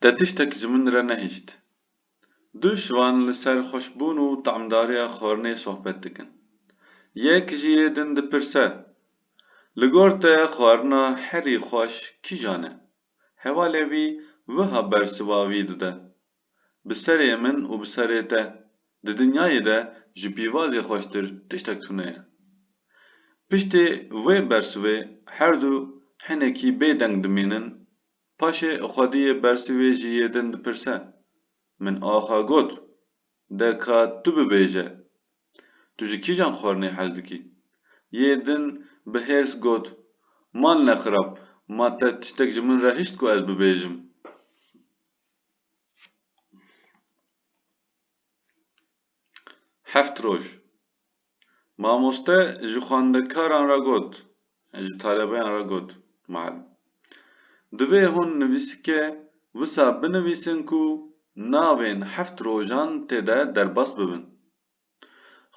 Te tiştek ji min re nehişt. Du şivan li ser xweşbûn û tamdariya xwarinê sohbet dikin. Yek ji yê din dipirse, Li gor te xwarina herî xweş kîjan e? Hevalê wî wiha bersiva wî dide, Bi serê min û bi serê te, di dinyayê de ji pîvazê xweştir tiştek tuneye. Piştê vê bersivê herdu hinekî bê deng dimînin, paşê xwediyê bersivê ji yê din dipirse, Min axa got, de ka tu bibêje, tu ji kîjan xwarinê hez dikî? Yê din bi hêrs got, Mal ne xirab, ma te tiştek ji min re hişt ku ez bibêjim. Heft roj. Mamoste ji xwendekaran re got, ji talebeyan re got, Muallim, divê hûn nivîsike wisa binivîsin ku navên heft rojan tê de derbas bibin.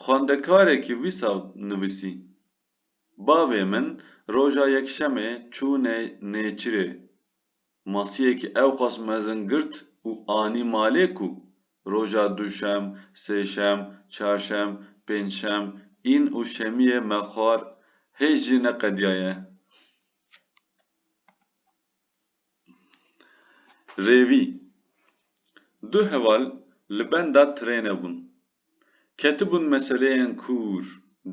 Xwendekarekî wisa nivîsî, Bavê min roja Yekşemê çû Nêçîrê. Masiyekî ewqas mezin girt û anî malê ku roja duşem, sêşem, çarşem, pêncşem, yn û şemiyê me xwar hêj jî neqediyaye. Rêvî. Du heval li benda trêne bûn. Ketibûn meseleyên kûr.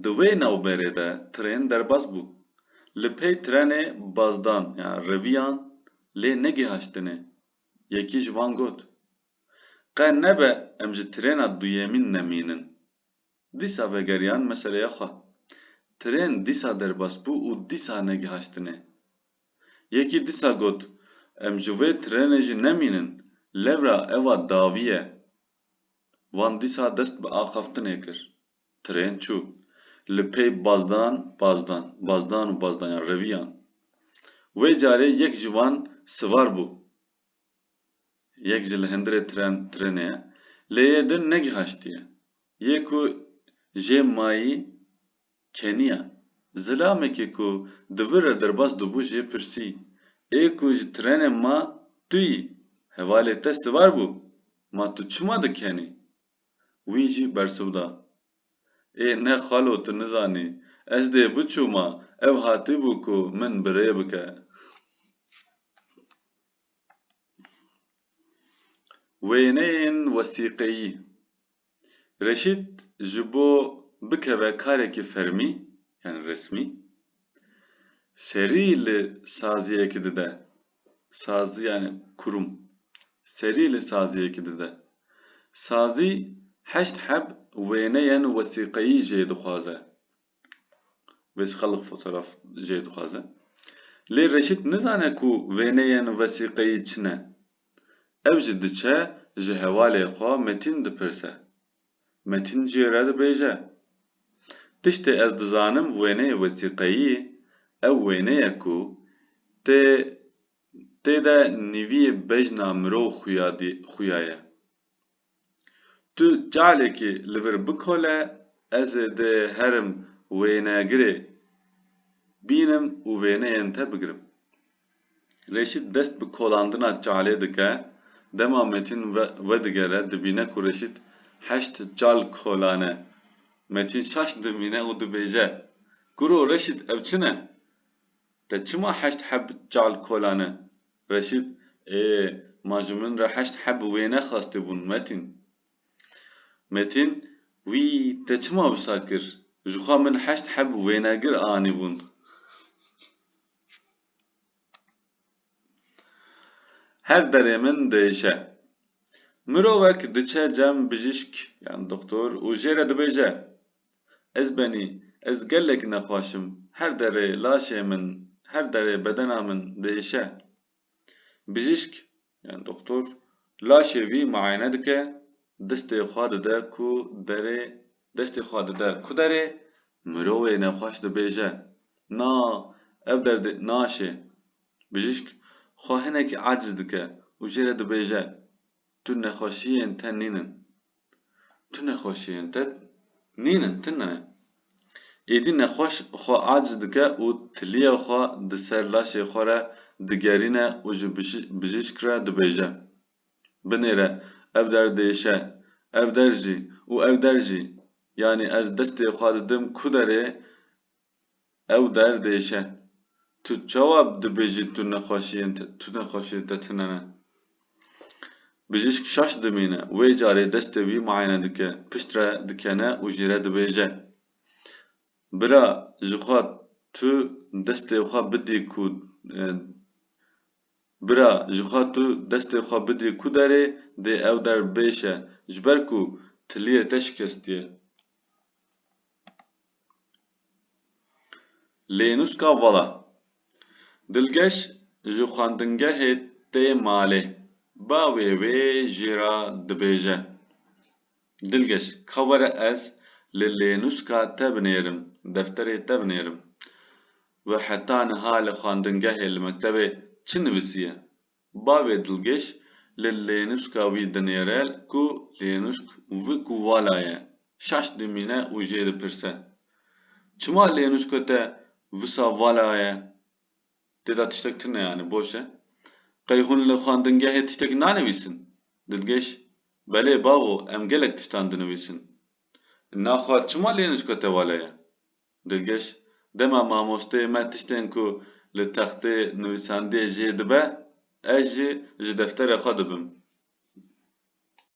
Di wê navberê de trên derbas bû. Li pey trenê bazdan ya reviyan lê negihaştine. Yekî ji wan got, Qe nebe em ji trêna duyemîn nemînin. Dîsa vegeriyan meseleya xwe. Trên dîsa derbas bû û dîsa negihaştine. Yekî dîsa got, Em ji wê trenê jî nemînin, lewra eva dawî ye. Wan dîsa dest bi axaftinê kir. Trên çû. Li pey bazdan, bazdan, bazdan û bazdanyan reviyan. Wê carê yek ji wan sivar bû. Yek ji li hindirê tren, trenê ye. Lê yê din negihaştiye. Yê ku jê mayî. Kenya, zilamekê ku di vir re derbas dibû jê pirsî, Ê ku ji trênê ma tu yî, hevalê te sivar bû, ma tu çima dikenî? Wî jî bersiv da, Ê ne xalo tu nizanî, ez dê biçûma, ew hatibû ku min bi rê bike. Wêneyên wesîqeyî. Reşît ji bo bikeve karekî fermî yan resmî, serî li saziyekî dide, sazî yanî kurûm, serî li saziyekî dide. Sazî heşt heb wêneyên wesîqeyî jê dixwaze. Wês xelq fotoraf jê dixwaze. Lê Reşît nizane ku wêneyên wesîqeyî çi ne. Ev jî diçe ji hevalê xwe Metîn dipirse. Metîn jê re dibêje. Tiştê ez dizanim wêneyê wesîqeyî ew wêneye ku tê tê de nîvî bejna mirov xuya xuya ye. Tu çalekê li vir bikole ez ê dê herim wênegirê bînim û wêneyên te bigirim. Reşît dest bi kolandina çalê dike, dema Metîn vedigere dibîne ku Reşît heşt çal kolane. Metîn şaş dimîne û dibêje, Kuro Reşît ev çi ne? Te çima heşt heb çal kolane? Reşît, Ê, ma ji min re heşt heb wê nexwestibûn Metîn. Metîn, Wî te çima wisa kir? Jixwe min heşt heb wênegir anîbûn. Her derê min diêşe. Mirovek diçe cem bijîşk yan doktor û jê re dibêje, Ez benî, ez gelek nexwaş im, her derê laşê min, her derê bedena min diêşe. Bijîşk, yan doxtor, laşê vî muayene dike, diştê xwe dide ku derê, deştê xwe dide ku derê, mirovê nexwaş dibêje, Na, ev derdê naşê. Bijîşk, xwe hinekî aciz dike û jê re dibêje, Tu nexweşiyên te nînin. Tu nexweşiyên te nînin, tu ne. Êdî nexweş xwe aciz dike û tiliya xwe di ser laşê xwe re digerîne û ji bijîşk re dibêje, Binêre, ev der diêşe, ev der jî û ev der jî, yanî ez destê xwe didim ku derê Ew der diêşe. Tu çawa dibêjî tu nexweşiyên te tu nexweşiyên te tune ne? Bijîşk şaş dimîne. Wê carê destê wî muayene dike. Pişt re dikene û jî re dibêje. Bira jixwe tu destê xwe bidî ku Bira jixwe tu destê xwe bidî ku derê dê ew der bêşe ji ber ku tiliyê te şikestiye. Lênûska vala Dilgeş ji xwendingehê tê malê, bavê wê jê re dibêje, Dilgeş ka were ez li lênûska te binêrim, defterê te binêrim. We heta niha li xwendingehê li mektebê çi nivîsiye? Bavê Dilgeş li lênuşka wî dinêre ku lênuşk vi ku vala ye, şaş dimîne û jê dipirse, Çima lênuşka te wisa vala ye? Tê de tiştek tune yanî boş e? Qey hûn li xwendingehê tiştek nanivîsin? Dilgeş, Belê bavo em gelek tiştan dinivîsin. Na xwe çima lênuşka te vala ye? Dilgeş, Dema mamosteyê me tiştên ku li textê nivîsandiyê jê dibe, ez jî ji defterê xwe dibim.